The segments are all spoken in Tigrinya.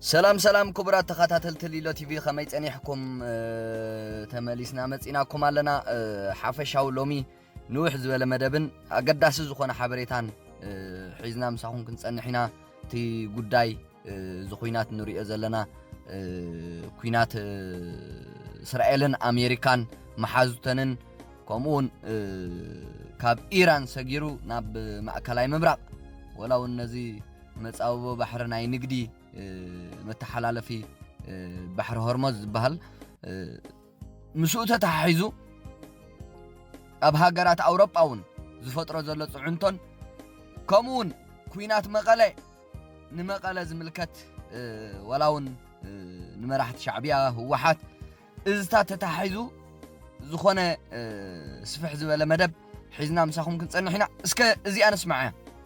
ሰላም ሰላም ክቡራት ተኸታተልቲ ሊሎ ቲቪ ከመይ ጸኒሕኩም ተመሊስና መጺናኩም ኣለና ሓፈሻዊ ሎሚ ንውሕ ዝበለ መደብን ኣገዳሲ ዝኾነ ሓበሬታን ሒዝና ምሳኹም ክንጸንሕ ኢና እቲ ጉዳይ እዚ ኩናት ንሪኦ ዘለና ኩናት እስራኤልን ኣሜሪካን መሓዙተንን ከምኡ እውን ካብ ኢራን ሰጊሩ ናብ ማእከላይ ምብራቕ ወላ እውን ነዚ መፃብቦ ባሕሪ ናይ ንግዲ መተሓላለፊ ባሕሪ ሆርሞዝ ዝበሃል ምስኡ ተተሓሒዙ ኣብ ሃገራት ኣውሮጳ እውን ዝፈጥሮ ዘሎ ፅዕንቶን ከምኡ እውን ኩናት መቐለ ንመቐለ ዝምልከት ዋላ እውን ንመራሕቲ ሻዕብያ ህወሓት እዝታት ተተሓሒዙ ዝኾነ ስፍሕ ዝበለ መደብ ሒዝና ምሳኹም ክንፀንሕ ኢና እስከ እዚኣ ንስማዕ እያ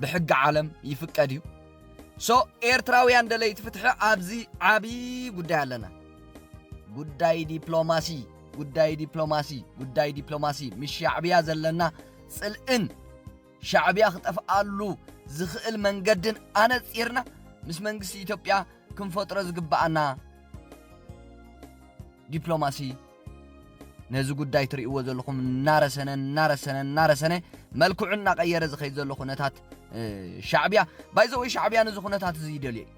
ብሕጊ ዓለም ይፍቀድ እዩ ሶ ኤርትራውያን ደለይቲ ፍትሒ ኣብዚ ዓቢ ጉዳይ ኣለና ጉዳይ ዲፕሎማሲ ጉዳይ ዲፕሎማሲ ጉዳይ ዲፕሎማሲ ምስ ሻዕብያ ዘለና ጽልእን ሻዕብያ ክጠፍኣሉ ዝኽእል መንገድን ኣነጺርና ምስ መንግስቲ ኢትዮጵያ ክንፈጥሮ ዝግብኣና ዲፕሎማሲ ነዚ ጉዳይ ትርእይዎ ዘለኹም እናረሰነ እናረሰነ እናረሰነ መልክዑ እናቐየረ ዝኸይድ ዘሎ ኩነታት ሻዕብያ ባይዘ ወይ ሻዕብያ ነዚ ኩነታት እዚ ይደልዮ እዩ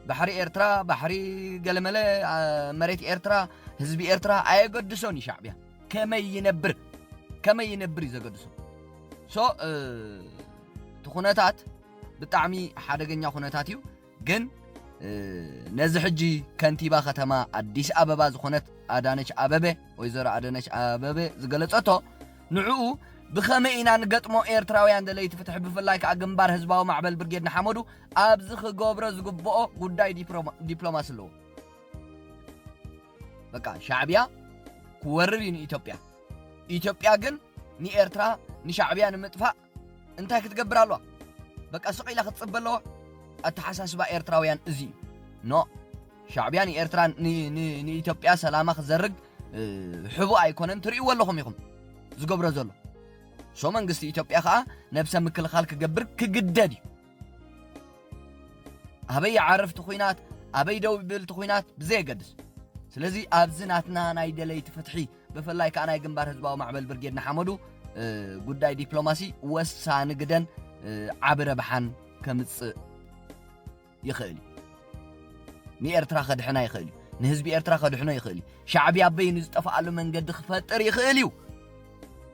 ባሕሪ ኤርትራ ባሕሪ ገለመለ መሬት ኤርትራ ህዝቢ ኤርትራ ኣየገድሶን እዩ ሻዕብያ ከመይ ይነብር ከመይ ይነብር እዩ ዘገድሶ ሶ እቲ ኩነታት ብጣዕሚ ሓደገኛ ኩነታት እዩ ግን ነዚ ሕጂ ከንቲባ ከተማ ኣዲስ ኣበባ ዝኾነት ኣዳነች ኣበበ ወይዘሮ ኣዳነች ኣበበ ዝገለጸቶ ንዕኡ ብኸመይ ኢና ንገጥሞ ኤርትራውያን ደለይቲ ፍትሒ ብፍላይ ከዓ ግንባር ህዝባዊ ማዕበል ብርጌድ ንሓመዱ ኣብዚ ክገብሮ ዝግብኦ ጉዳይ ዲፕሎማሲ ኣለዎ በቃ ሻዕብያ ክወርር እዩ ንኢትዮጵያ ኢትዮጵያ ግን ንኤርትራ ንሻዕብያ ንምጥፋእ እንታይ ክትገብር ኣለዋ በቃ ስቕ ኢላ ክትጽበ ኣለዋ ኣተሓሳስባ ኤርትራውያን እዚ እዩ ኖ ሻዕብያ ንኤርትራ ንኢትዮጵያ ሰላማ ክዘርግ ሕቡእ ኣይኮነን ትርእይዎ ኣለኹም ኢኹም ዝገብሮ ዘሎ ሶ መንግስቲ ኢትዮጵያ ከዓ ነብሰ ምክልኻል ክገብር ክግደድ እዩ ኣበይ ይዓርፍ እቲ ኩናት ኣበይ ደው ይብል እቲ ኩናት ብዘየገድስ ስለዚ ኣብዚ ናትና ናይ ደለይቲ ፍትሒ ብፍላይ ከኣ ናይ ግንባር ህዝባዊ ማዕበል ብርጌድ ንሓመዱ ጉዳይ ዲፕሎማሲ ወሳኒ ግደን ዓቢ ረብሓን ከምጽእ ይኽእል እዩ ንኤርትራ ከድሕና ይኽእል እዩ ንህዝቢ ኤርትራ ከድሕኖ ይኽእል እዩ ሻዕብያ በይኑ ዝጠፍኣሉ መንገዲ ክፈጥር ይኽእል እዩ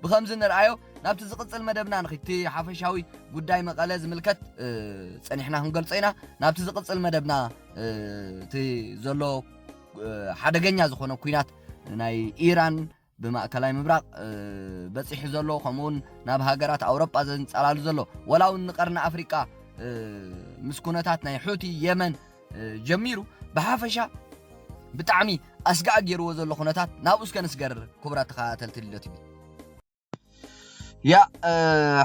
ብከምዚ ንርኣዮ ናብቲ ዝቕጽል መደብና ንኽድ እቲ ሓፈሻዊ ጉዳይ መቐለ ዝምልከት ጸኒሕና ክንገልጾ ኢና ናብቲ ዝቕጽል መደብና እቲ ዘሎ ሓደገኛ ዝኾነ ኩናት ናይ ኢራን ብማእከላይ ምብራቕ በፂሑ ዘሎ ከምኡውን ናብ ሃገራት ኣውሮጳ ዘንፀላሉ ዘሎ ወላ እውን ንቀርኒ ኣፍሪቃ ምስ ኩነታት ናይ ሑቲ የመን ጀሚሩ ብሓፈሻ ብጣዕሚ ኣስጋዕ ገይርዎ ዘሎ ኩነታት ናብኡ እስከ ንስገር ክቡራት ተኸታተልቲ ልደት እዩ ያእ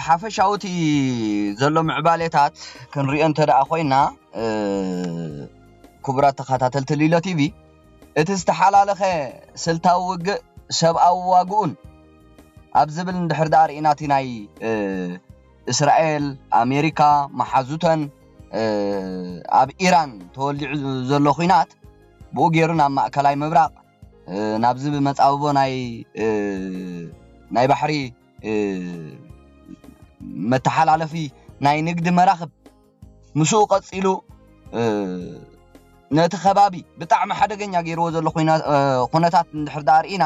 ሓፈሻዊ እቲ ዘሎ ምዕባሌታት ክንሪኦ እንተ ደኣ ኮይና ክቡራት ተኸታተልቲ ሊሎ ቲቪ እቲ ዝተሓላለኸ ስልታዊ ውግእ ሰብኣዊ ዋግኡን ኣብ ዝብል እንድሕር ደኣ ርኢና እቲ ናይ እስራኤል ኣሜሪካ መሓዙተን ኣብ ኢራን ተወሊዑ ዘሎ ኩናት ብኡ ገይሩ ናብ ማእከላይ ምብራቕ ናብዚ ብመጻብቦ ናይ ናይ ባሕሪ መተሓላለፊ ናይ ንግዲ መራኽብ ምስኡ ቀጺሉ ነቲ ከባቢ ብጣዕሚ ሓደገኛ ገይርዎ ዘሎ ኩነታት እንድሕር ደኣ ርኢና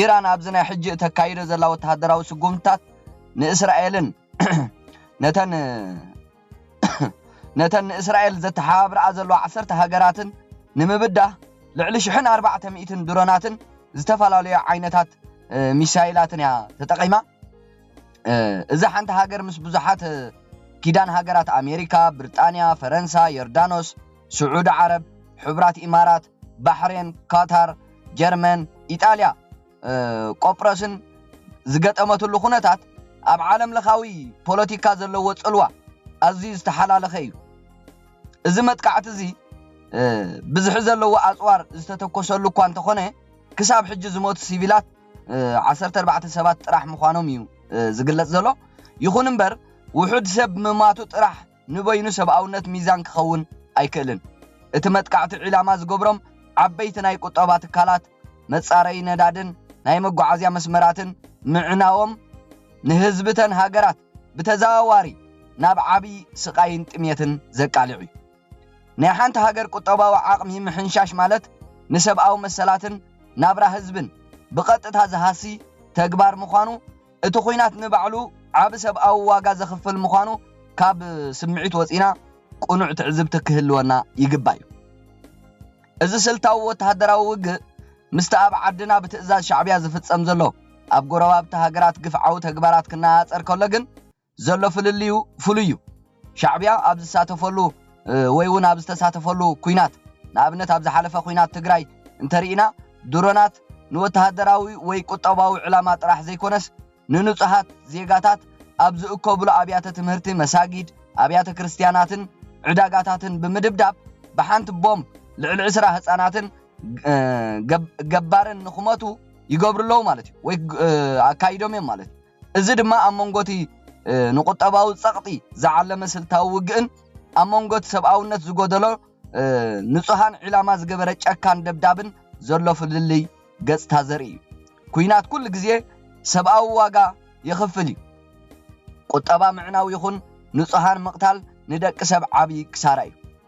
ኢራን ኣብዚ ናይ ሕጂ እተካይዶ ዘላ ወተሃደራዊ ስጉምትታት ንእስራኤልን ነተን ነተን ንእስራኤል ዘተሓባብርኣ ዘለዋ ዓሰርተ ሃገራትን ንምብዳህ ልዕሊ ሽሕን ኣርባዕተ ሚእትን ድሮናትን ዝተፈላለዩ ዓይነታት ሚሳይላትን እያ ተጠቒማ። እዚ ሓንቲ ሃገር ምስ ብዙሓት ኪዳን ሃገራት ኣሜሪካ፣ ብርጣንያ፣ ፈረንሳ፣ ዮርዳኖስ፣ ስዑዲ ዓረብ፣ ሕቡራት ኢማራት፣ ባሕሬን፣ ኳታር፣ ጀርመን፣ ኢጣልያ፣ ቆጵሮስን ዝገጠመትሉ ኩነታት ኣብ ዓለም ለኻዊ ፖለቲካ ዘለዎ ጽልዋ ኣዝዩ ዝተሓላለኸ እዩ። እዚ መጥቃዕቲ እዚ ብዝሒ ዘለዎ ኣጽዋር ዝተተኮሰሉ እኳ እንተኾነ ክሳብ ሕጂ ዝሞቱ ሲቪላት ዓሰርተ ኣርባዕተ ሰባት ጥራሕ ምዃኖም እዩ ዝግለጽ ዘሎ። ይኹን እምበር ውሑድ ሰብ ምማቱ ጥራሕ ንበይኑ ሰብኣውነት ሚዛን ክኸውን ኣይክእልን። እቲ መጥቃዕቲ ዒላማ ዝገብሮም ዓበይቲ ናይ ቁጠባ ትካላት፣ መጻረዪ ነዳድን ናይ መጓዓዝያ መስመራትን ምዕናዎም ንህዝቢ'ተን ሃገራት ብተዘዋዋሪ ናብ ዓቢ ስቓይን ጥሜትን ዘቃልዕ'ዩ። ናይ ሓንቲ ሃገር ቁጠባዊ ዓቕሚ ምሕንሻሽ ማለት ንሰብኣዊ መሰላትን ናብራ ህዝብን ብቐጥታ ዝሃሲ ተግባር ምዃኑ እቲ ኹናት ንባዕሉ ዓቢ ሰብኣዊ ዋጋ ዘኽፍል ምዃኑ ካብ ስምዒት ወጺና ቅኑዕ ትዕዝብቲ ክህልወና ይግባይ። እዚ ስልታዊ ወተሃደራዊ ውግእ ምስቲ ኣብ ዓድና ብትእዛዝ ሻዕብያ ዝፍጸም ዘሎ ኣብ ጎረባብቲ ሃገራት ግፍዓዊ ተግባራት ክነኣኣጸር ከሎ ግን ዘሎ ፍልልዩ ፍሉይ እዩ። ሻዕቢያ ኣብ ዝሳተፈሉ ወይ እውን ኣብ ዝተሳተፈሉ ኲናት፣ ንኣብነት ኣብ ዝሓለፈ ኲናት ትግራይ እንተርኢና፣ ድሮናት ንወተሃደራዊ ወይ ቁጠባዊ ዕላማ ጥራሕ ዘይኮነስ ንንፁሃት ዜጋታት ኣብ ዝእከብሉ ኣብያተ ትምህርቲ፣ መሳጊድ፣ ኣብያተ ክርስትያናትን ዕዳጋታትን ብምድብዳብ ብሓንቲ ቦምብ ልዕሊ ዕስራ ህፃናትን ገባርን ንክሞቱ ይገብሩ ኣለዉ ማለት እዩ ወይ ኣካይዶም እዮም ማለት እዩ። እዚ ድማ ኣብ መንጎ'ቲ ንቁጠባዊ ጸቕጢ ዝዓለመ ስልታዊ ውግእን ኣብ መንጎ'ቲ ሰብኣውነት ዝጎደሎ ንጹሃን ዒላማ ዝገበረ ጨካን ደብዳብን ዘሎ ፍልልይ ገጽታ ዘርኢ እዩ። ኲናት ኩሉ ግዜ ሰብኣዊ ዋጋ የኽፍል እዩ። ቁጠባ ምዕናው ይኹን ንጹሃን ምቕታል ንደቂ ሰብ ዓቢ ክሳራ እዩ።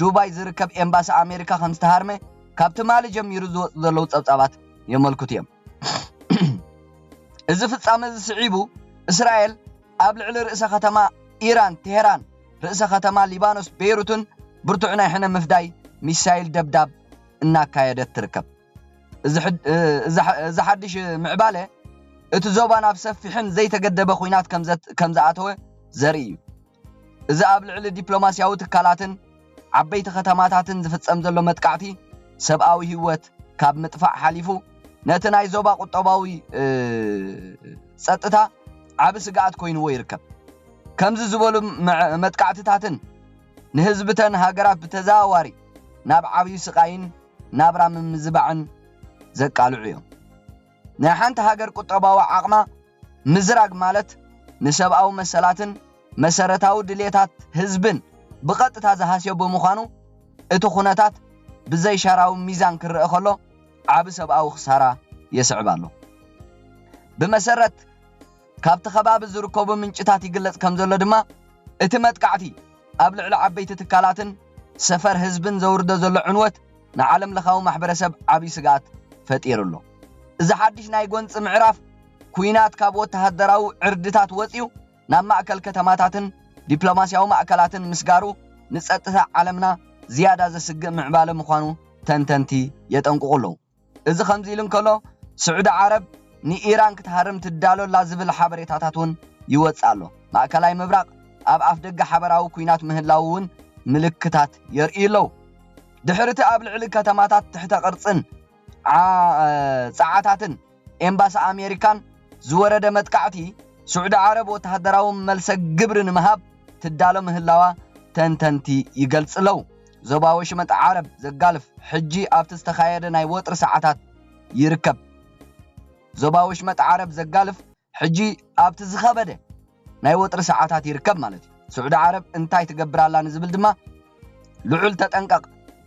ዱባይ ዝርከብ ኤምባሲ ኣሜሪካ ከምዝተሃርመ ካብ ትማሊ ጀሚሩ ዝወፁ ዘለዉ ፀብፃባት የመልክቱ እዮም። እዚ ፍጻመ እዚ ስዒቡ እስራኤል ኣብ ልዕሊ ርእሰ ከተማ ኢራን ቴሄራን ርእሰ ከተማ ሊባኖስ ቤይሩትን ብርቱዕ ናይ ሕነ ምፍዳይ ሚሳይል ደብዳብ እናካየደት ትርከብ። እዚ ሓድሽ ምዕባለ እቲ ዞባ ናብ ሰፊሕን ዘይተገደበ ኹናት ከም ዝኣተወ ዘርኢ እዩ። እዚ ኣብ ልዕሊ ዲፕሎማስያዊ ትካላትን ዓበይቲ ከተማታትን ዝፍጸም ዘሎ መጥቃዕቲ ሰብኣዊ ህይወት ካብ ምጥፋእ ሓሊፉ ነቲ ናይ ዞባ ቁጠባዊ ጸጥታ ዓቢ ስግኣት ኮይንዎ ይርከብ። ከምዚ ዝበሉ መጥቃዕትታትን ንህዝብተን ሃገራት ብተዘዋዋሪ ናብ ዓብዩ ስቓይን ናብራ ምምዝባዕን ዘቃልዑ እዮም። ናይ ሓንቲ ሃገር ቁጠባዊ ዓቕማ ምዝራግ ማለት ንሰብኣዊ መሰላትን መሰረታዊ ድሌታት ህዝብን ብቐጥታ ዝሃስዮ ብምዃኑ እቲ ኩነታት ብዘይሻራዊ ሚዛን ክረኣ ከሎ ዓቢ ሰብኣዊ ክሳራ የስዕብ ኣሎ። ብመሰረት ካብቲ ከባቢ ዝርከቡ ምንጭታት ይግለጽ ከምዘሎ ድማ፣ እቲ መጥቃዕቲ ኣብ ልዕሊ ዓበይቲ ትካላትን ሰፈር ህዝብን ዘውርዶ ዘሎ ዕንወት ንዓለምለኻዊ ማሕበረሰብ ዓብይ ስግኣት ፈጢሩ ኣሎ። እዚ ሓድሽ ናይ ጎንፂ ምዕራፍ ኲናት ካብ ወተሃደራዊ ዕርድታት ወፂኡ ናብ ማእከል ከተማታትን ዲፕሎማስያዊ ማእከላትን ምስጋሩ ንፀጥታ ዓለምና ዝያዳ ዘስግእ ምዕባለ ምዃኑ ተንተንቲ የጠንቅቑ ኣለዉ። እዚ ከምዚ ኢሉ እንከሎ ስዑዲ ዓረብ ንኢራን ክትሃርም ትዳሎ ኣላ ዝብል ሓበሬታታት እውን ይወጽእ ኣሎ። ማእከላይ ምብራቕ ኣብ ኣፍደገ ሓበራዊ ኲናት ምህላዉ እውን ምልክታት የርእዩ ኣለዉ። ድሕሪ እቲ ኣብ ልዕሊ ከተማታት ትሕተ ቅርጽን ጸዓታትን ኤምባሲ ኣሜሪካን ዝወረደ መጥቃዕቲ፣ ስዑዲ ዓረብ ወተሃደራዊ መልሰ ግብሪ ንምሃብ ትዳሎ ምህላዋ ተንተንቲ ይገልጹ ኣለዉ። ዞባ ወሽመጥ ዓረብ ዘጋልፍ ሕጂ ኣብቲ ዝተኻየደ ናይ ወጥሪ ሰዓታት ይርከብ። ዞባ ወሽመጥ ዓረብ ዘጋልፍ ሕጂ ኣብቲ ዝኸበደ ናይ ወጥሪ ሰዓታት ይርከብ ማለት እዩ። ስዑዲ ዓረብ እንታይ ትገብር ኣላ ንዝብል ድማ ልዑል ተጠንቀቕ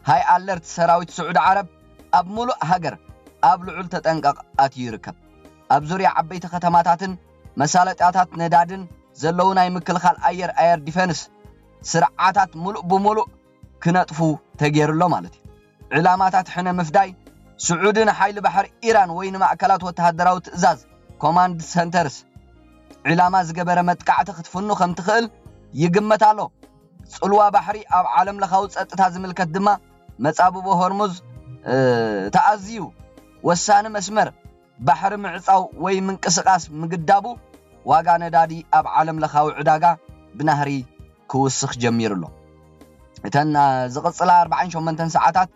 ሃይ ኣለርት ሰራዊት ስዑዲ ዓረብ ኣብ ሙሉእ ሃገር ኣብ ልዑል ተጠንቀቕ ኣትዩ ይርከብ። ኣብ ዙርያ ዓበይቲ ከተማታትን መሳለጥያታት ነዳድን ዘለዉ ናይ ምክልኻል ኣየር፣ ኣየር ዲፈንስ፣ ስርዓታት ምሉእ ብምሉእ ክነጥፉ ተገይሩ ኣሎ ማለት እዩ። ዒላማታት ሕነ ምፍዳይ፣ ስዑዲ ንሓይሊ ባሕሪ ኢራን ወይ ንማእከላት ወተሃደራዊ ትእዛዝ፣ Command Centers፣ ዒላማ ዝገበረ መጥቃዕቲ ክትፍኑ ከም ትኽእል ይግመት ኣሎ። ጽልዋ ባሕሪ ኣብ ዓለምለኻዊ ጸጥታ ዝምልከት ድማ መጻብቦ ሆርሙዝ እቲ ኣዝዩ ወሳኒ መስመር ባሕሪ ምዕጻው ወይ ምንቅስቓስ ምግዳቡ ዋጋ ነዳዲ ኣብ ዓለምለኻዊ ዕዳጋ ብናህሪ ክውስኽ ጀሚሩ ኣሎ። እተን ዝቕጽላ ኣርባዓን ሸሞንተን ሰዓታት፣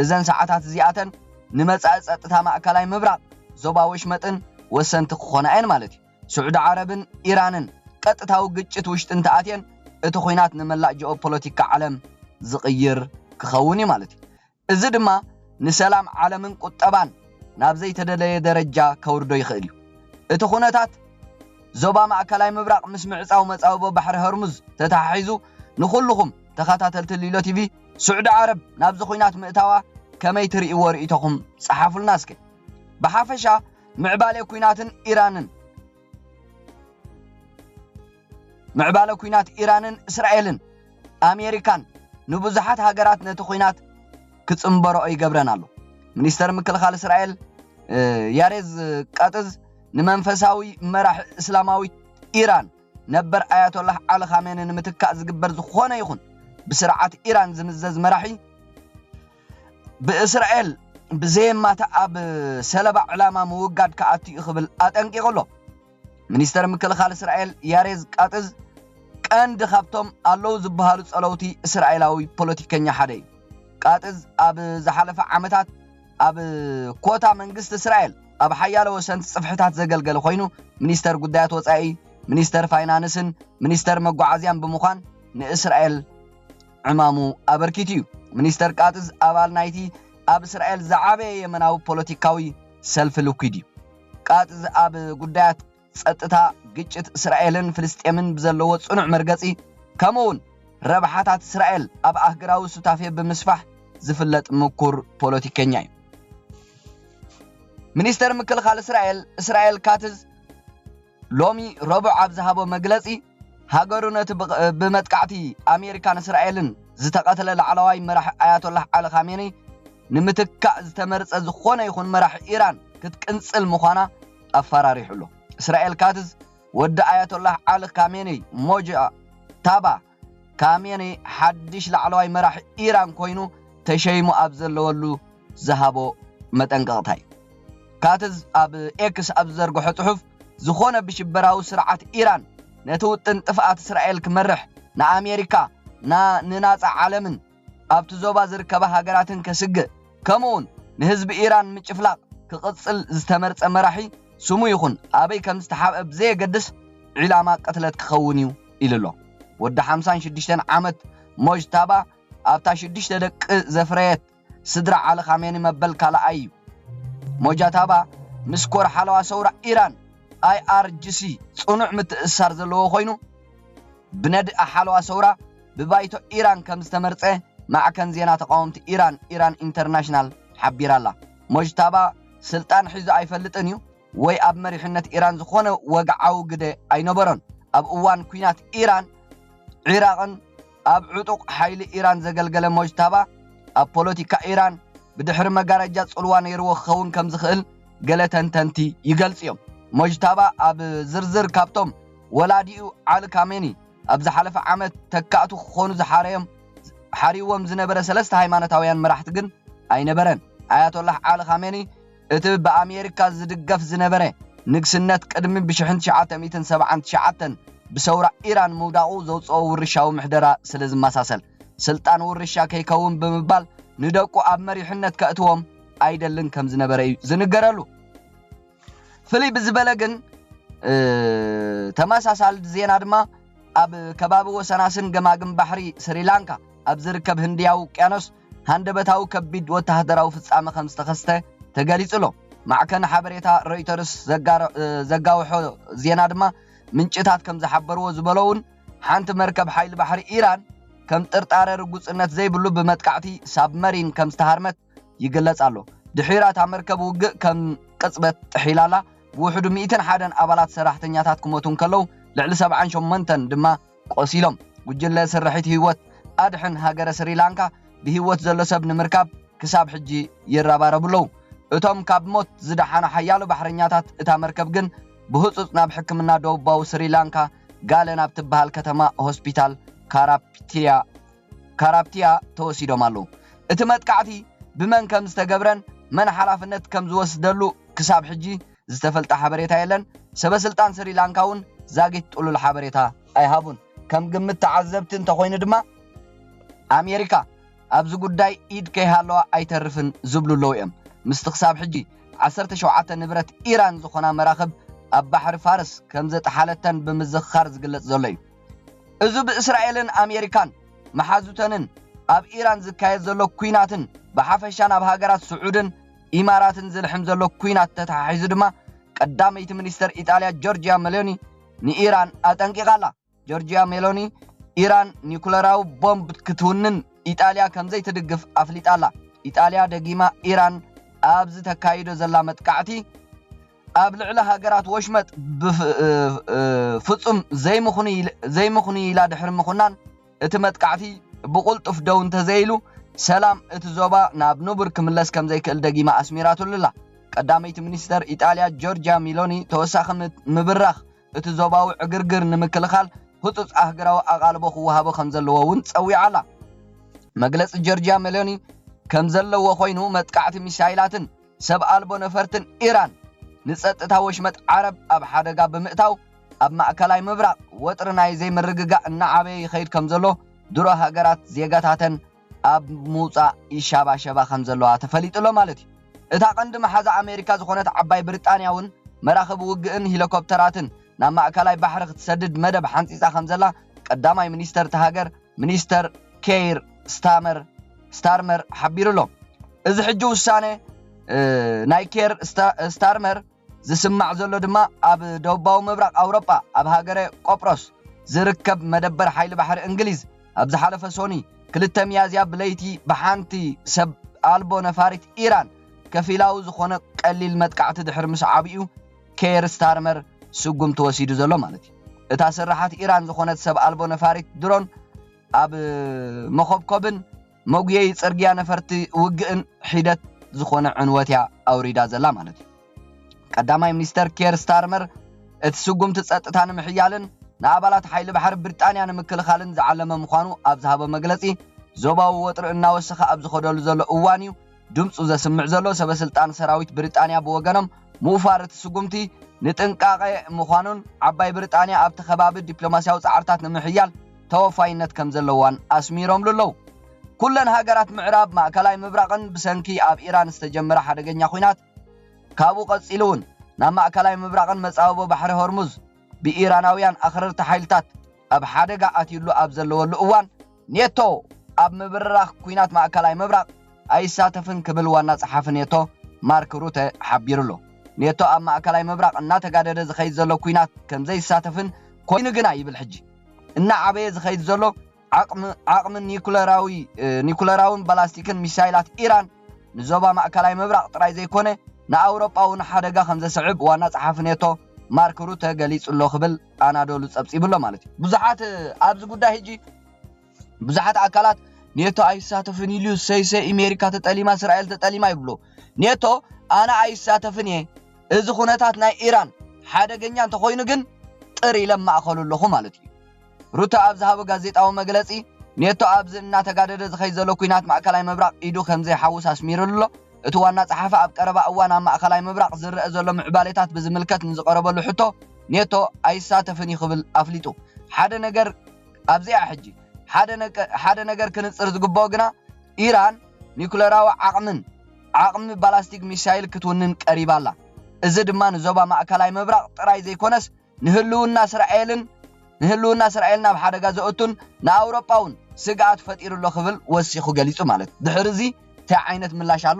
እዘን ሰዓታት እዚኣተን ንመጻኢ ጸጥታ ማእከላይ ምብራቕ፣ ዞባ ወሽመጥን ወሰንቲ ክኾና እየን ማለት እዩ። ስዑዲ ዓረብን ኢራንን ቀጥታዊ ግጭት ውሽጢ እንተኣትየን፣ እቲ ኹናት ንመላእ ጂኦፖለቲካ ዓለም ዝቕይር ክኸውን እዩ ማለት እዩ። እዚ ድማ ንሰላም ዓለምን ቁጠባን ናብ ዘይተደለየ ደረጃ ከውርዶ ይኽእል እዩ። እቲ ኩነታት ዞባ ማእከላይ ምብራቕ ምስ ምዕጻው መጻብቦ ባሕሪ ሆርሙዝ ተተሓሒዙ ንኹሉኹም ተኸታተልቲ ሊሎ ቲቪ ሱዕዲ ዓረብ ናብዚ ኹናት ምእታዋ ከመይ ትርእይዎ ርእይቶኹም ጸሓፉልና እስከ። ብሓፈሻ ምዕባሌ ኩናትን ኢራንን። ምዕባለ ኲናት ኢራንን እስራኤልን ኣሜሪካን ንብዙሓት ሃገራት ነቲ ኲናት ክጽንበርኦ ይገብረን ኣሎ። ሚኒስተር ምክልኻል እስራኤል ያሬዝ ቃጥዝ ንመንፈሳዊ መራሒ እስላማዊት ኢራን ነበር ኣያቶላህ ዓሊ ኻሜኒ ንምትካእ ዝግበር ዝኾነ ይኹን ብስርዓት ኢራን ዝምዘዝ መራሒ ብእስራኤል ብዘየማታ ኣብ ሰለባ ዕላማ ምውጋድ ክኣቱ እዩ ክብል ኣጠንቂቑ ኣሎ። ሚኒስተር ምክልኻል እስራኤል ያሬዝ ቃጥዝ ቀንዲ ካብቶም ኣለዉ ዝበሃሉ ጸለውቲ እስራኤላዊ ፖለቲከኛ ሓደ እዩ። ቃጥዝ ኣብ ዝሓለፈ ዓመታት ኣብ ኮታ መንግስቲ እስራኤል ኣብ ሓያለ ወሰንቲ ጽፍሕታት ዘገልገለ ኮይኑ ሚኒስተር ጉዳያት ወጻኢ፣ ሚኒስተር ፋይናንስን ሚኒስተር መጓዓዝያን ብምዃን ንእስራኤል ዕማሙ ኣበርኪቱ እዩ። ሚኒስተር ቃጥዝ ኣባል ናይቲ ኣብ እስራኤል ዝዓበየ የመናዊ ፖለቲካዊ ሰልፊ ልኲድ እዩ። ቃትዝ ኣብ ጉዳያት ጸጥታ፣ ግጭት እስራኤልን ፍልስጤምን ብዘለዎ ጽኑዕ መርገጺ፣ ከምኡ'ውን ረብሓታት እስራኤል ኣብ ኣህግራዊ ሱታፌ ብምስፋሕ ዝፍለጥ ምኩር ፖለቲከኛ እዩ። ሚኒስተር ምክልኻል እስራኤል እስራኤል ካትዝ፣ ሎሚ ረቡዕ ኣብ ዝሃቦ መግለጺ፣ ሃገሩ ነቲ ብመጥቃዕቲ ኣሜሪካን እስራኤልን ዝተቐትለ ላዕለዋይ መራሒ ኣያቶላህ ዓሊ ኻሜነይ ንምትካእ ዝተመርጸ ዝኾነ ይኹን መራሒ ኢራን ክትቅንጽል ምዃና ኣፈራሪሑ'ሎ። እስራኤል ካትዝ ወዲ ኣያቶላህ ዓሊ ኻሜነይ ሞጅታባ ካሜኔ ሓድሽ ላዕለዋይ መራሒ ኢራን ኮይኑ ተሸይሙ ኣብ ዘለወሉ ዝሃቦ መጠንቀቕታ እዩ። ካትዝ ኣብ ኤክስ ኣብ ዝዘርግሖ ጽሑፍ፣ ዝኾነ ብሽበራዊ ስርዓት ኢራን ነቲ ውጥን ጥፍኣት እስራኤል ክመርሕ ንኣሜሪካ፣ ን ንናጻ ዓለምን፣ ኣብቲ ዞባ ዝርከባ ሃገራትን ከስግእ ከምኡ'ውን ንህዝቢ ኢራን ምጭፍላቕ ክቕጽል ዝተመርጸ መራሒ ስሙ ይኹን ኣበይ ከም ዝተሓብአ ብዘየገድስ ዒላማ ቅትለት ክኸውን'ዩ ኢሉ'ሎ። ወዲ ሓምሳን ሽዱሽተን ዓመት ሞጅታባ ኣብታ ሽዱሽተ ደቂ ዘፍረየት ስድራ ዓሊ ኻሜኒ መበል ካልኣይ'ዩ። ሞጃታባ ምስ ኮር ሓለዋ ሰውራ ኢራን፣ ኣይኣርጅሲ፣ ጽኑዕ ምትእስሳር ዘለዎ ኮይኑ፣ ብነድኣ ሓለዋ ሰውራ፣ ብባይቶ ኢራን ከም ዝተመርጸ ማዕከን ዜና ተቓወምቲ ኢራን ኢራን ኢንተርናሽናል ሓቢራ'ላ። ሞጅታባ ስልጣን ሒዙ ኣይፈልጥን እዩ ወይ ኣብ መሪሕነት ኢራን ዝኾነ ወግዓዊ ግደ ኣይነበሮን። ኣብ እዋን ኲናት ኢራን ዒራቕን ኣብ ዕጡቕ ሓይሊ ኢራን ዘገልገለ ሞጅታባ ኣብ ፖለቲካ ኢራን ብድሕሪ መጋረጃ ጽልዋ ነይርዎ ክኸውን ከም ዝኽእል ገለ ተንተንቲ ይገልጹ'ዮም። ሞጅታባ ኣብ ዝርዝር ካብቶም ወላዲኡ ዓሊ ካሜኒ፣ ኣብ ዝሓለፈ ዓመት ተካእቱ ክኾኑ ዝሓረዮም ሓርይዎም ዝነበረ ሰለስተ ሃይማኖታውያን መራሕቲ ግን ኣይነበረን። ኣያቶላህ ዓሊ ኻሜኒ እቲ ብኣሜሪካ ዝድገፍ ዝነበረ ንግስነት ቅድሚ ብሽሕን ትሽዓተ ሚእትን ሰብዓን ትሽዓተን ብሰውራ ኢራን ምውዳቑ ዘውጽኦ ውርሻዊ ምሕደራ ስለ ዝመሳሰል ስልጣን ውርሻ ከይከውን ብምባል ንደቁ ኣብ መሪሕነት ከእትዎም ኣይደልን ከም ዝነበረ እዩ ዝንገረሉ። ፍልይ ብዝበለ ግን ተመሳሳሊ ዜና ድማ ኣብ ከባቢ ወሰናስን ገማግም ባሕሪ ስሪላንካ ኣብ ዝርከብ ህንድያዊ ውቅያኖስ ሃንደበታዊ ከቢድ ወተሃደራዊ ፍጻመ ከም ዝተኸስተ ተገሊጹ ኣሎ። ማዕከን ሓበሬታ ሮይተርስ ዘጋውሖ ዜና ድማ ምንጭታት ከም ዝሓበርዎ ዝበሎ እውን ሓንቲ መርከብ ሓይሊ ባሕሪ ኢራን ከም ጥርጣረ ርጉጽነት ዘይብሉ ብመጥቃዕቲ ሳብመሪን ከም ዝተሃርመት ይግለጽ ኣሎ። ድሒራ እታ መርከብ ውግእ ከም ቅጽበት ጥሒላላ፣ ብውሕዱ ሚእትን ሓደን ኣባላት ሰራሕተኛታት ክሞቱ እንከለዉ፣ ልዕሊ ሰብዓን ሸሞንተን ድማ ቆሲሎም። ጉጅለ ስርሒት ህይወት ኣድሕን ሃገረ ስሪላንካ ብህይወት ዘሎ ሰብ ንምርካብ ክሳብ ሕጂ ይረባረቡ ኣለዉ። እቶም ካብ ሞት ዝደሓኑ ሓያሎ ባሕረኛታት እታ መርከብ ግን ብህጹጽ ናብ ሕክምና ደቡባዊ ስሪላንካ ጋለ ናብ ትበሃል ከተማ ሆስፒታል ካራፕቲያ ካራፕቲያ ተወሲዶም ኣለዉ። እቲ መጥቃዕቲ ብመን ከም ዝተገብረን መን ሓላፍነት ከም ዝወስደሉ ክሳብ ሕጂ ዝተፈልጠ ሓበሬታ የለን፣ ሰበስልጣን ስሪላንካ እውን ዛጊት ጥሉል ሓበሬታ ኣይሃቡን። ከም ግምት ተዓዘብቲ እንተኾይኑ ድማ ኣሜሪካ ኣብዚ ጉዳይ ኢድ ከይሃለዋ ኣይተርፍን ዝብሉ ኣለዉ እዮም። ምስቲ ክሳብ ሕጂ ዓሰርተ ሸውዓተ ንብረት ኢራን ዝኾና መራኽብ ኣብ ባሕሪ ፋርስ ከም ዘጥሓለተን ብምዝኽኻር ዝግለጽ ዘሎ እዩ። እዚ ብእስራኤልን ኣሜሪካን መሓዙተንን ኣብ ኢራን ዝካየድ ዘሎ ኩናትን ብሓፈሻ ናብ ሃገራት ስዑድን ኢማራትን ዝልሕም ዘሎ ኩናት ተተሓሒዙ ድማ ቀዳመይቲ ሚኒስተር ኢጣልያ ጆርጅያ መሎኒ ንኢራን ኣጠንቂቓ ኣላ። ጆርጅያ ሜሎኒ ኢራን ኒኩለራዊ ቦምብ ክትውንን ኢጣልያ ከምዘይትድግፍ ኣፍሊጣ ኣላ። ኢጣልያ ደጊማ ኢራን ኣብዚ ተካይዶ ዘላ መጥቃዕቲ ኣብ ልዕሊ ሃገራት ወሽመጥ ፍጹም ዘይምኽኑይ ኢላ ድሕሪ ምኹናን፣ እቲ መጥቃዕቲ ብቕልጡፍ ደው እንተዘይኢሉ፣ ሰላም እቲ ዞባ ናብ ንቡር ክምለስ ከምዘይክእል ደጊማ ኣስሚራትሉ'ላ። ቀዳመይቲ ሚኒስተር ኢጣልያ ጆርጂያ ሚሎኒ ተወሳኺ ምብራኽ እቲ ዞባዊ ዕግርግር ንምክልኻል ህጹጽ ኣህግራዊ ኣቓልቦ ክወሃቦ ከምዘለዎ'ውን ጸዊዓ'ላ። መግለጺ ጆርጂያ ሚሎኒ ከምዘለዎ ኮይኑ፣ መጥቃዕቲ ሚሳይላትን፣ ሰብ ኣልቦ ነፈርትን ኢራን ንጸጥታ ወሽመጥ ዓረብ ኣብ ሓደጋ ብምእታው ኣብ ማእከላይ ምብራቕ ወጥሪ ናይ ዘይምርግጋእ እናዓበየ ይኸይድ ከምዘሎ ድሮ ሃገራት ዜጋታተን ኣብ ምውጻእ ይሻባሸባ ከምዘለዋ ተፈሊጡ'ሎ ማለት እዩ። እታ ቀንዲ መሓዛ ኣሜሪካ ዝኾነት ዓባይ ብሪጣንያ'ውን መራኽብ ውግእን ሂሊኮፕተራትን ናብ ማእከላይ ባሕሪ ክትሰድድ መደብ ሓንጺጻ ከምዘላ ቀዳማይ ሚኒስተር'ታ ሃገር ሚኒስተር ኬይር ስታመር ስታርመር ሓቢሩ ኣሎ። እዚ ሕጂ ውሳነ ናይ ኬር ስታርመር ዝስማዕ ዘሎ ድማ ኣብ ደቡባዊ ምብራቕ ኣውሮጳ ኣብ ሃገረ ቆጵሮስ ዝርከብ መደበር ሓይሊ ባሕሪ እንግሊዝ ኣብ ዝሓለፈ ሶኒ ክልተ ሚያዝያ ብለይቲ ብሓንቲ ሰብ ኣልቦ ነፋሪት ኢራን ከፊላዊ ዝኾነ ቀሊል መጥቃዕቲ ድሕሪ ምስዓቡ'ዩ ኬር ስታርመር ስጉምቲ ወሲዱ ዘሎ ማለት እዩ። እታ ስርሓት ኢራን ዝኾነት ሰብ ኣልቦ ነፋሪት ድሮን ኣብ መኾብኮብን መጉየዪ ጽርግያ ነፈርቲ ውግእን ሒደት ዝኾነ ዕንወት እያ ኣውሪዳ ዘላ ማለት እዩ። ቀዳማይ ሚኒስተር ኬር ስታርመር እቲ ስጉምቲ ጸጥታ ንምሕያልን ንኣባላት ሓይሊ ባሕሪ ብሪጣንያ ንምክልኻልን ዝዓለመ ምዃኑ ኣብ ዝሃቦ መግለጺ ዞባዊ ወጥሪ እናወሰኸ ኣብ ዝኸደሉ ዘሎ እዋን እዩ ድምጹ ዘስምዕ ዘሎ ሰበስልጣን ሰራዊት ብሪጣንያ ብወገኖም ምውፋር እቲ ስጉምቲ ንጥንቃቐ ምዃኑን ዓባይ ብሪጣንያ ኣብቲ ከባቢ ዲፕሎማስያዊ ጻዕርታት ንምሕያል ተወፋይነት ከምዘለዋን ኣስሚሮምሉ ኣለዉ። ኩለን ሃገራት ምዕራብ ማእከላይ ምብራቕን ብሰንኪ ኣብ ኢራን ዝተጀመረ ሓደገኛ ኲናት ካብኡ ቀጺሉ'ውን ናብ ማእከላይ ምብራቕን መጻብቦ ባሕሪ ሆርሙዝ ብኢራናውያን ኣኽረርቲ ሓይልታት ኣብ ሓደጋ ኣትዩሉ ኣብ ዘለወሉ እዋን ኔቶ ኣብ ምብርራኽ ኲናት ማእከላይ ምብራቕ ኣይሳተፍን ክብል ዋና ጸሓፊ ኔቶ ማርክ ሩተ ሓቢሩ'ሎ። ኔቶ ኣብ ማእከላይ ምብራቕ እናተጋደደ ዝኸይድ ዘሎ ኲናት ከምዘይሳተፍን ኮይኑ ግና ይብል ሕጂ እናዓበየ ዝኸይድ ዘሎ ዓቕሚ ኒኩለራዊን ባላስቲክን ሚሳይላት ኢራን ንዞባ ማእከላይ ምብራቕ ጥራይ ዘይኮነ ንኣውሮጳ'ውን ሓደጋ ከምዘስዕብ ዋና ጸሓፊ ኔቶ ማርክ ሩተ ገሊጹ'ሎ ክብል ኣናዶሉ ጸብጺቡ ኣሎ ማለት እዩ። ብዙሓት ኣብዚ ጉዳይ ሕጂ ብዙሓት ኣካላት ኔቶ ኣይሳተፍን ኢሉ ሰይሰይ ኢሜሪካ ተጠሊማ እስራኤል ተጠሊማ ይብሉ። ኔቶ ኣነ ኣይሳተፍን እየ እዚ ኩነታት ናይ ኢራን ሓደገኛ እንተኾይኑ ግን ጥር ኢለ ማእኸሉ ኣለኹ ማለት እዩ። ሩተ ኣብ ዝሃቦ ጋዜጣዊ መግለጺ ኔቶ ኣብዚ እናተጋደደ ዝኸይድ ዘሎ ኲናት ማእከላይ ምብራቕ ኢዱ ከምዘይሓውስ ኣስሚርሉ ኣሎ። እቲ ዋና ጸሓፊ ኣብ ቀረባ እዋን ኣብ ማእከላይ ምብራቕ ዝረኣ ዘሎ ምዕባሌታት ብዝምልከት ንዝቐረበሉ ሕቶ ኔቶ ኣይሳተፍን እዩ ክብል ኣፍሊጡ። ሓደ ነገር ኣብዚ'ያ ሕጂ። ሓደ ነገር ክንጽር ዝግብኦ ግና ኢራን ኒዩክለራዊ ዓቕምን ዓቕሚ ባላስቲክ ሚሳይል ክትውንን ቀሪባ ኣላ። እዚ ድማ ንዞባ ማእከላይ ምብራቕ ጥራይ ዘይኮነስ ንህልውና እስራኤልን ንህልውና እስራኤልን ኣብ ሓደጋ ዘእቱን ንኣውሮጳውን ስግኣት ፈጢሩ ኣሎ ክብል ወሲኹ ገሊጹ። ማለት ድሕሪ እዚ ታይ ዓይነት ምላሽ ኣሎ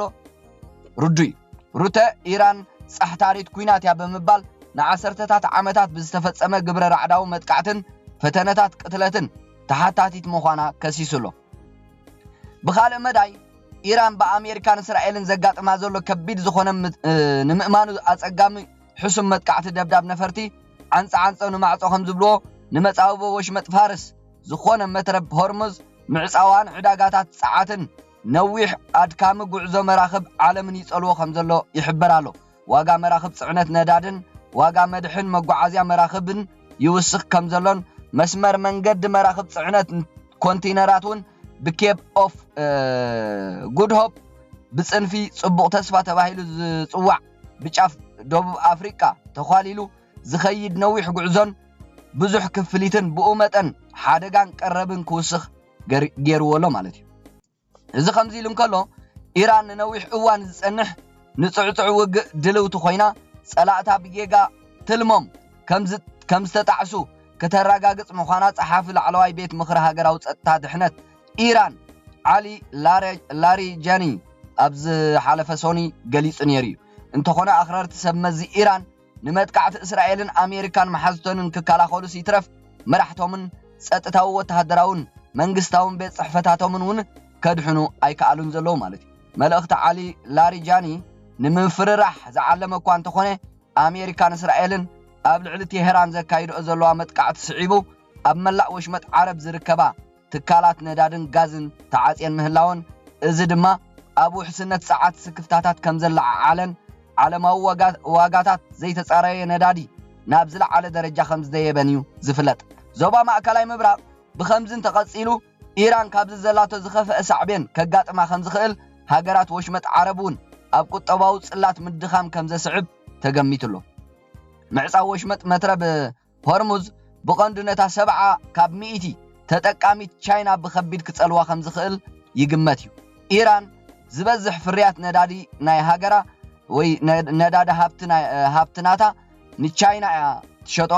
ርዱይ እዩ። ሩተ፣ ኢራን ጻሕታሪት ኲናት እያ ብምባል ንዓሰርተታት ዓመታት ብዝተፈጸመ ግብረ ራዕዳዊ መጥቃዕትን ፈተነታት ቅትለትን ተሓታቲት ምዃና ከሲሱ ኣሎ። ብኻልእ መዳይ ኢራን ብኣሜሪካን እስራኤልን ዘጋጥማ ዘሎ ከቢድ ዝኾነ ንምእማኑ ኣጸጋሚ ሕሱም መጥቃዕቲ ደብዳብ ነፈርቲ ዓንጸ ዓንጸ ንማዕጾ ከም ዝብልዎ ንመጻብቦ ወሽመጥ ፋርስ ዝኾነ መትረብ ሆርሙዝ ምዕጻዋን ዕዳጋታት ጸዓትን ነዊሕ ኣድካሚ ጉዕዞ መራኽብ ዓለምን ይጸልዎ ከም ዘሎ ይሕበር ኣሎ። ዋጋ መራኽብ ጽዕነት ነዳድን ዋጋ መድሕን መጓዓዝያ መራኽብን ይውስኽ ከም ዘሎን መስመር መንገዲ መራኽብ ጽዕነት ኮንቲነራት እውን ብኬፕ ኦፍ ጉድ ሆፕ ብጽንፊ ጽቡቕ ተስፋ ተባሂሉ ዝጽዋዕ ብጫፍ ደቡብ ኣፍሪቃ ተዃሊሉ ዝኸይድ ነዊሕ ጉዕዞን ብዙሕ ክፍሊትን ብኡ መጠን ሓደጋን ቀረብን ክውስኽ ገይርዎ ኣሎ ማለት እዩ። እዚ ከምዚ ኢሉ እንከሎ፣ ኢራን ንነዊሕ እዋን ዝጸንሕ ንጽዕጹዕ ውግእ ድልውቲ ኮይና፣ ጸላእታ ብጌጋ ትልሞም ከምዝተጣዕሱ ከተረጋግጽ ምዃና ጸሓፊ ላዕለዋይ ቤት ምኽሪ ሃገራዊ ጸጥታ ድሕነት ኢራን ዓሊ ላሪጃኒ ኣብ ዝሓለፈ ሶኒ ገሊጹ ነይሩ'ዩ። እንተኾነ ኣኽረርቲ ሰብ መዚ ኢራን ንመጥቃዕቲ እስራኤልን ኣሜሪካን መሓዙተንን ክከላኸሉስ ይትረፍ መራሕቶምን ጸጥታዊ ወተሃደራውን መንግስታውን ቤት ጽሕፈታቶምን እውን ከድሕኑ ኣይከኣሉን ዘለዉ ማለት እዩ። መልእኽቲ ዓሊ ላሪጃኒ ንምፍርራሕ ዝዓለመ እኳ እንተኾነ ኣሜሪካን እስራኤልን ኣብ ልዕሊ ቴህራን ዘካይድኦ ዘለዋ መጥቃዕቲ ስዒቡ ኣብ መላእ ወሽመጥ ዓረብ ዝርከባ ትካላት ነዳድን ጋዝን ተዓጽየን ምህላወን፣ እዚ ድማ ኣብ ውሕስነት ጸዓት ስክፍታታት ከምዘለዓዓለን ዓለማዊ ዋጋታት ዘይተጻረየ ነዳዲ ናብ ዝለዓለ ደረጃ ከምዝደየበን'ዩ ዝፍለጥ። ዞባ ማእከላይ ምብራቕ ብኸምዚ እንተቐጺሉ ኢራን ካብዚ ዘላቶ ዝኸፍኣ ሳዕቤን ከጋጥማ ከምዝኽእል ሃገራት ወሽመጥ ዓረብ'ውን ኣብ ቁጠባዊ ጽላት ምድኻም ከምዘስዕብ ተገሚቱ'ሎ። ምዕጻው ወሽመጥ መትረብ ሆርሙዝ ብቐንዱ ነታ ሰብዓ ካብ ሚእቲ ተጠቃሚት ቻይና ብኸቢድ ክጸልዋ ከምዝኽእል ይግመት እዩ። ኢራን ዝበዝሕ ፍርያት ነዳዲ ናይ ሃገራ ወይ ነዳዲ ሃብቲ ናታ ንቻይና እያ ትሸጦ፣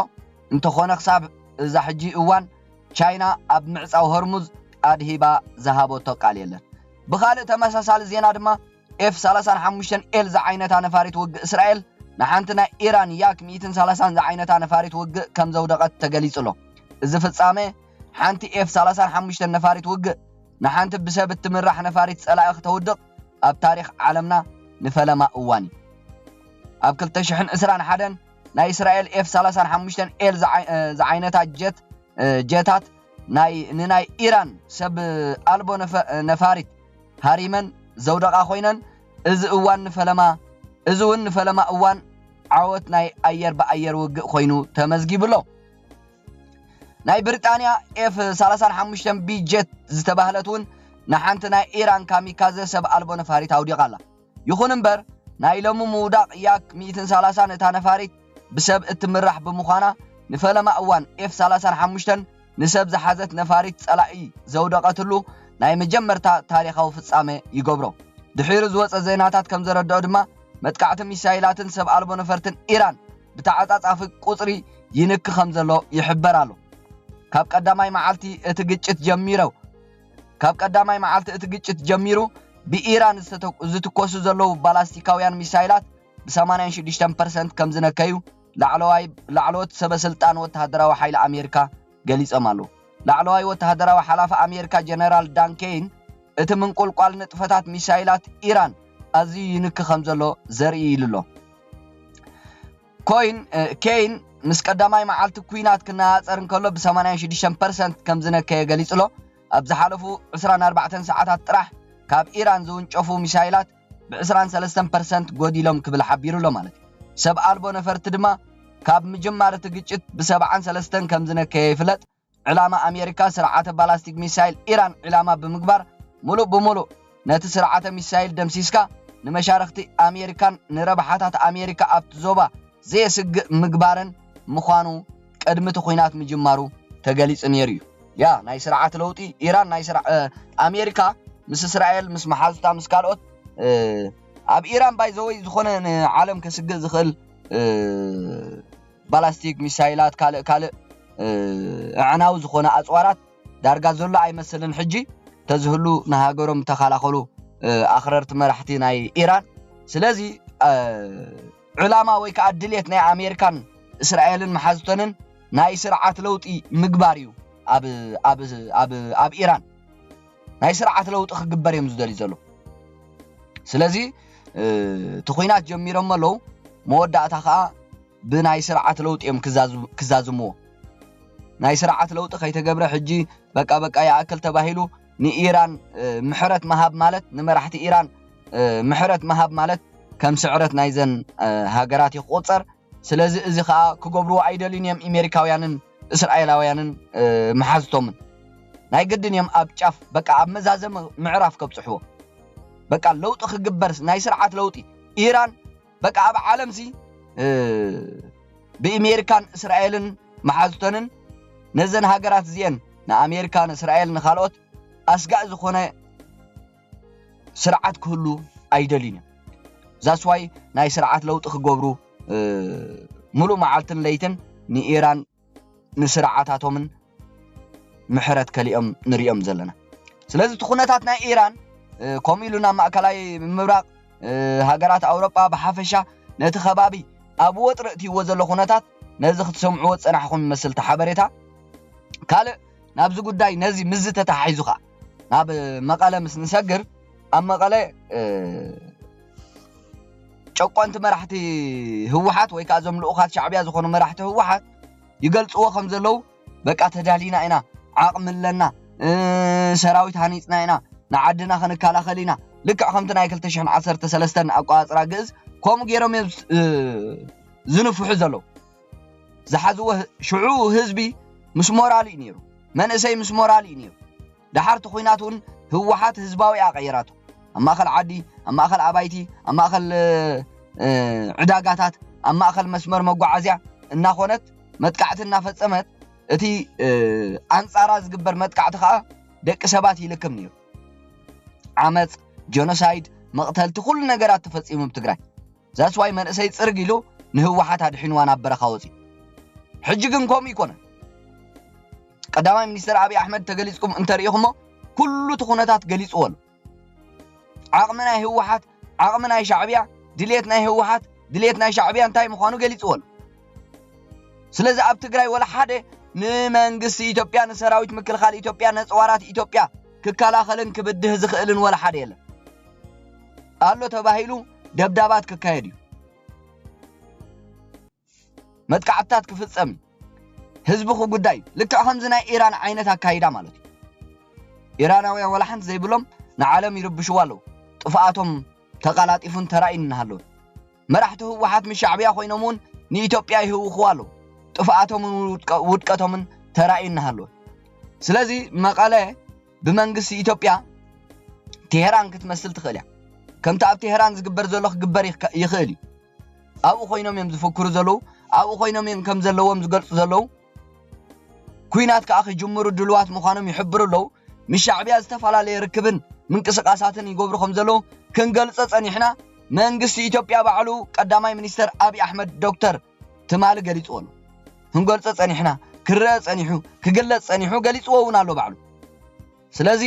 እንተኾነ ክሳብ እዛ ሕጂ እዋን ቻይና ኣብ ምዕጻው ሆርሙዝ ኣድሂባ ዝሃበቶ ቃል የለን። ብኻልእ ተመሳሳሊ ዜና ድማ፣ ኤፍ 35 ኤል ዝዓይነታ ነፋሪት ውግእ እስራኤል ንሓንቲ ናይ ኢራን ያክ 130 ዝዓይነታ ነፋሪት ውግእ ከም ዘውደቐት ተገሊጹ ኣሎ። እዚ ፍጻመ ሓንቲ ኤፍ 35 ነፋሪት ውግእ ንሓንቲ ብሰብ እትምራሕ ነፋሪት ጸላኢ ክተውድቕ ኣብ ታሪኽ ዓለምና ንፈለማ እዋን እዩ። ኣብ 2021 ናይ እስራኤል ኤፍ 35 ኤል ዝዓይነታ ጀት ጀታት ናይ ንናይ ኢራን ሰብ ኣልቦ ነፋሪት ሃሪመን ዘውደቓ ኮይነን እዚ እዋን ንፈለማ እዚ እውን ንፈለማ እዋን ዓወት ናይ ኣየር ብኣየር ውግእ ኮይኑ ተመዝጊቡ ኣሎ። ናይ ብሪጣንያ ኤፍ 35 ቢ ጀት ዝተባህለት እውን ንሓንቲ ናይ ኢራን ካሚካዘ ሰብ ኣልቦ ነፋሪት ኣውዲቓ ኣላ። ይኹን እምበር ናይ ሎሚ ምውዳቕ ያክ ሚእትን ሰላሳን እታ ነፋሪት ብሰብ እትምራሕ ብምዃና ንፈለማ እዋን ኤፍ ሰላሳን ሓሙሽተን ንሰብ ዝሓዘት ነፋሪት ጸላኢ ዘውደቐትሉ ናይ መጀመርታ ታሪኻዊ ፍጻመ ይገብሮ። ድሒሩ ዝወጸ ዜናታት ከም ዘረድኦ ድማ መጥቃዕቲ ሚሳይላትን ሰብ ኣልቦ ነፈርትን ኢራን ብተዓጻጻፊ ቁጽሪ ይንኪ ከም ዘሎ ይሕበር ኣሎ። ካብ ቀዳማይ መዓልቲ እቲ ግጭት ጀሚሮ፣ ካብ ቀዳማይ መዓልቲ እቲ ግጭት ጀሚሩ ብኢራን ዝትኮሱ ዘለዉ ባላስቲካውያን ሚሳይላት ብሰማንያን ሽዱሽተን ፐርሰንት ከም ዝነከዩ ላዕለዎት ሰበ ስልጣን ወተሃደራዊ ሓይሊ ኣሜሪካ ገሊጾም ኣለዉ። ላዕለዋይ ወተሃደራዊ ሓላፊ ኣሜሪካ ጀነራል ዳን ኬይን እቲ ምንቁልቋል ንጥፈታት ሚሳይላት ኢራን ኣዝዩ ይንኪ ከም ዘሎ ዘርኢ ኢሉ'ሎ። ኮይን፣ ኬይን ምስ ቀዳማይ መዓልቲ ኲናት ክነፃፀር እንከሎ ብ ሰማንያን ሽዱሽተን ፐርሰንት ከምዝነከየ ገሊፁ'ሎ። ኣብ ዝሓለፉ ዕስራን ኣርባዕተን ሰዓታት ጥራሕ ካብ ኢራን ዝውንጨፉ ሚሳይላት ብ ዕስራን ሰለስተን ፐርሰንት ጎዲሎም ክብል ሓቢሩ'ሎ ማለት እዩ። ሰብ ኣልቦ ነፈርቲ ድማ ካብ ምጅማር እቲ ግጭት ብ ሰብዓን ሰለስተን ከምዝነከየ ይፍለጥ። ዕላማ ኣሜሪካ ስርዓተ ባላስቲክ ሚሳይል ኢራን ዒላማ ብምግባር ሙሉእ ብሙሉእ ነቲ ስርዓተ ሚሳይል ደምሲስካ ንመሻርኽቲ ኣሜሪካን ንረብሓታት ኣሜሪካ ኣብቲ ዞባ ዘየስግእ ምግባርን ምዃኑ ቅድሚ እቲ ኹናት ምጅማሩ ተገሊፁ ነይሩ እዩ። ያ ናይ ስርዓት ለውጢ ኢራን ናይ ኣሜሪካ ምስ እስራኤል ምስ መሓዙታ ምስ ካልኦት ኣብ ኢራን ባይ ዘወይ ዝኾነ ንዓለም ከስግእ ዝኽእል ባላስቲክ ሚሳይላት ካልእ ካልእ እዕናዊ ዝኾነ ኣጽዋራት ዳርጋ ዘሎ ኣይመስልን ሕጂ ተዝህሉ ንሃገሮም ምተኻላኸሉ ኣኽረርቲ መራሕቲ ናይ ኢራን ስለዚ ዕላማ ወይ ከዓ ድሌት ናይ ኣሜሪካን እስራኤልን መሓዝተንን ናይ ስርዓት ለውጢ ምግባር እዩ ኣብ ኢራን ናይ ስርዓት ለውጢ ክግበር እዮም ዝደልዩ ዘለዉ ስለዚ እቲ ኩናት ጀሚሮሞ ኣለዉ መወዳእታ ከዓ ብናይ ስርዓት ለውጢ እዮም ክዛዝምዎ ናይ ስርዓት ለውጢ ከይተገብረ ሕጂ በቃ በቃ ይኣክል ተባሂሉ ንኢራን ምሕረት መሃብ ማለት ንመራሕቲ ኢራን ምሕረት መሃብ ማለት ከም ስዕረት ናይዘን ሃገራት ይቆፀር ስለዚ እዚ ከኣ ክገብርዎ ኣይደልዩን እዮም ኢሜሪካውያንን እስራኤላውያንን መሓዝቶምን ናይ ግድን እዮም ኣብ ጫፍ በቃ ኣብ መዛዘሚ ምዕራፍ ከብጽሕዎ በቃ ለውጢ ክግበርስ ናይ ስርዓት ለውጢ ኢራን በቃ ኣብ ዓለም ሲ ብኢሜሪካን እስራኤልን መሓዝቶንን ነዘን ሃገራት እዚኤን ንኣሜሪካ ንእስራኤል ንካልኦት ኣስጋእ ዝኾነ ስርዓት ክህሉ ኣይደልዩን እዮም ዛስዋይ ናይ ስርዓት ለውጢ ክገብሩ ሙሉእ መዓልትን ለይትን ንኢራን ንስርዓታቶምን ምሕረት ከሊኦም ንሪኦም ዘለና ስለዚ እቲ ኩነታት ናይ ኢራን ከምኡ ኢሉ ናብ ማእከላይ ምብራቕ ሃገራት ኣውሮጳ ብሓፈሻ ነቲ ከባቢ ኣብ ወጥሪ እትይዎ ዘሎ ኩነታት ነዚ ክትሰምዕዎ ዝጸናሕኹም መስልቲ ሓበሬታ ካልእ ናብዚ ጉዳይ ነዚ ምስዚ ተተሓሒዙ ኸኣ ናብ መቐለ ምስ ንሰግር ኣብ መቐለ ጨቆንቲ መራሕቲ ህወሓት ወይ ከዓ እዞም ልኡኻት ሻዕብያ ዝኾኑ መራሕቲ ህወሓት ይገልፅዎ ከም ዘለዉ በቃ ተዳሊና ኢና ዓቕሚ ኣለና ሰራዊት ሃኒፅና ኢና ንዓድና ክንከላኸል ኢና ልክዕ ከምቲ ናይ 213 ኣቋፅራ ግእዝ ከምኡ ገይሮም እዮም ዝንፍሑ ዘለዉ ዝሓዝዎ ሽዑ ህዝቢ ምስ ሞራሉ እዩ ነይሩ፣ መንእሰይ ምስ ሞራሉ እዩ ነይሩ። ደሓር እቲ ኹናት እውን ህወሓት ህዝባዊ እያ ቀይራቶ። ኣብ ማእኸል ዓዲ፣ ኣብ ማእኸል ኣባይቲ፣ ኣብ ማእኸል ዕዳጋታት፣ ኣብ ማእኸል መስመር መጓዓዝያ እናኾነት መጥቃዕቲ እናፈፀመት እቲ ኣንፃራ ዝግበር መጥቃዕቲ ከዓ ደቂ ሰባት ይልክም ነይሩ። ዓመፅ፣ ጀኖሳይድ፣ መቕተልቲ ኩሉ ነገራት ተፈፂሙ ኣብ ትግራይ። That's why መንእሰይ ጽርግ ኢሉ ንህወሓት ኣድሒንዋ ናብ በረኻ ወጺኡ። ሕጂ ግን ከምኡ ኣይኮነን። ቀዳማይ ሚኒስተር ኣብይ ኣሕመድ ተገሊጽኩም እንተርኢኹሞ ኩሉ እቲ ኩነታት ገሊጽዎ ኣሎ። ዓቕሚ ናይ ህወሓት ዓቕሚ ናይ ሻዕብያ ድሌት ናይ ህወሓት ድሌት ናይ ሻዕብያ እንታይ ምዃኑ ገሊጽዎ ኣሎ። ስለዚ ኣብ ትግራይ ወላ ሓደ ንመንግስቲ ኢትዮጵያ ንሰራዊት ምክልኻል ኢትዮጵያ ነፅዋራት ኢትዮጵያ ክከላኸልን ክብድህ ዝኽእልን ወላ ሓደ የለን ኣሎ ተባሂሉ ደብዳባት ክካየድ እዩ መጥቃዕትታት ክፍጸም እዩ ህዝቢ ክጉዳይ እዩ ልክዕ ከምዚ ናይ ኢራን ዓይነት ኣካይዳ ማለት እዩ ኢራናውያን ወላ ሓንቲ ዘይብሎም ንዓለም ይርብሽዋ ኣለዉ ጥፍኣቶም ተቀላጢፉን ተራእዩን እናሃለዉ መራሕቲ ህወሓት ምስ ሻዕብያ ኮይኖም እውን ንኢትዮጵያ ይህውኽዋ ኣለዉ ጥፍኣቶምን ውድቀቶምን ተራእዩ እናሃለዉ ስለዚ መቐለ ብመንግስቲ ኢትዮጵያ ቴህራን ክትመስል ትኽእል እያ ከምቲ ኣብ ቴህራን ዝግበር ዘሎ ክግበር ይኽእል እዩ ኣብኡ ኮይኖም እዮም ዝፍክሩ ዘለዉ ኣብኡ ኮይኖም እዮም ከም ዘለዎም ዝገልፁ ዘለዉ ኩናት ከዓ ክጅምሩ ድልዋት ምዃኖም ይሕብሩ ኣለዉ ምስ ሻዕብያ ዝተፈላለየ ርክብን ምንቅስቃሳትን ይገብሩ ከም ዘለዉ ክንገልፆ ፀኒሕና መንግስቲ ኢትዮጵያ ባዕሉ ቀዳማይ ሚኒስተር ኣብዪ ኣሕመድ ዶክተር ትማሊ ገሊጽዎ ኣሎ። ክንገልጾ ጸኒሕና፣ ክረኣ ጸኒሑ፣ ክግለጽ ጸኒሑ፣ ገሊጽዎ እውን ኣሎ ባዕሉ። ስለዚ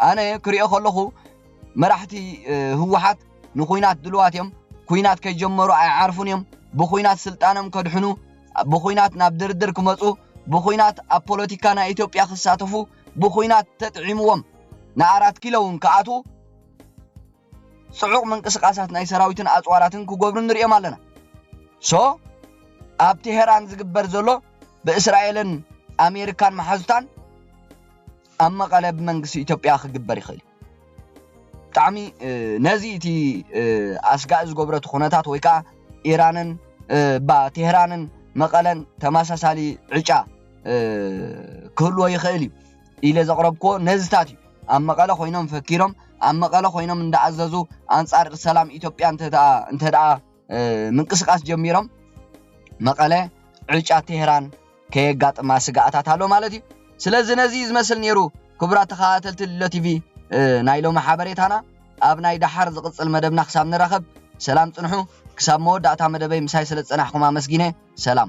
ኣነ ክሪኦ ከለኹ መራሕቲ ህወሓት ንኩናት ድልዋት እዮም። ኩናት ከይጀመሩ ኣይዓርፉን እዮም። ብኩናት ስልጣኖም ከድሕኑ፣ ብኩናት ናብ ድርድር ክመጹ፣ ብኩናት ኣብ ፖለቲካ ናይ ኢትዮጵያ ክሳተፉ፣ ብኩናት ተጥዒምዎም ንኣራት ኪሎ እውን ክኣትዉ ጽዑቕ ምንቅስቃሳት ናይ ሰራዊትን ኣጽዋራትን ክጎብሩ ንርእዮም ኣለና ሶ ኣብ ቴሄራን ዝግበር ዘሎ ብእስራኤልን ኣሜሪካን መሓዙታን ኣብ መቐለ ብመንግስቲ ኢትዮጵያ ክግበር ይኽእል ብጣዕሚ ነዚ እቲ ኣስጋኢ ዝገብረቲ ኩነታት ወይ ከዓ ኢራንን ባ ቴህራንን መቐለን ተመሳሳሊ ዕጫ ክህልዎ ይኽእል እዩ ኢለ ዘቕረብኩዎ ነዚታት እዩ። ኣብ መቐለ ኮይኖም ፈኪሮም፣ ኣብ መቐለ ኮይኖም እንዳኣዘዙ ኣንጻር ሰላም ኢትዮጵያ እንተድኣ ምንቅስቓስ ጀሚሮም መቐለ ዕጫ ቴህራን ከየጋጥማ ስግኣታት ኣሎ ማለት እዩ። ስለዚ ነዚ ዝመስል ነይሩ ክቡራት ተኸታተልቲ ልሎ ቲቪ ናይ ሎሚ ሓበሬታና። ኣብ ናይ ደሓር ዝቕጽል መደብና ክሳብ ንራኸብ ሰላም ጽንሑ። ክሳብ መወዳእታ መደበይ ምሳይ ስለ ዝጸናሕኩም ኣመስጊነ። ሰላም።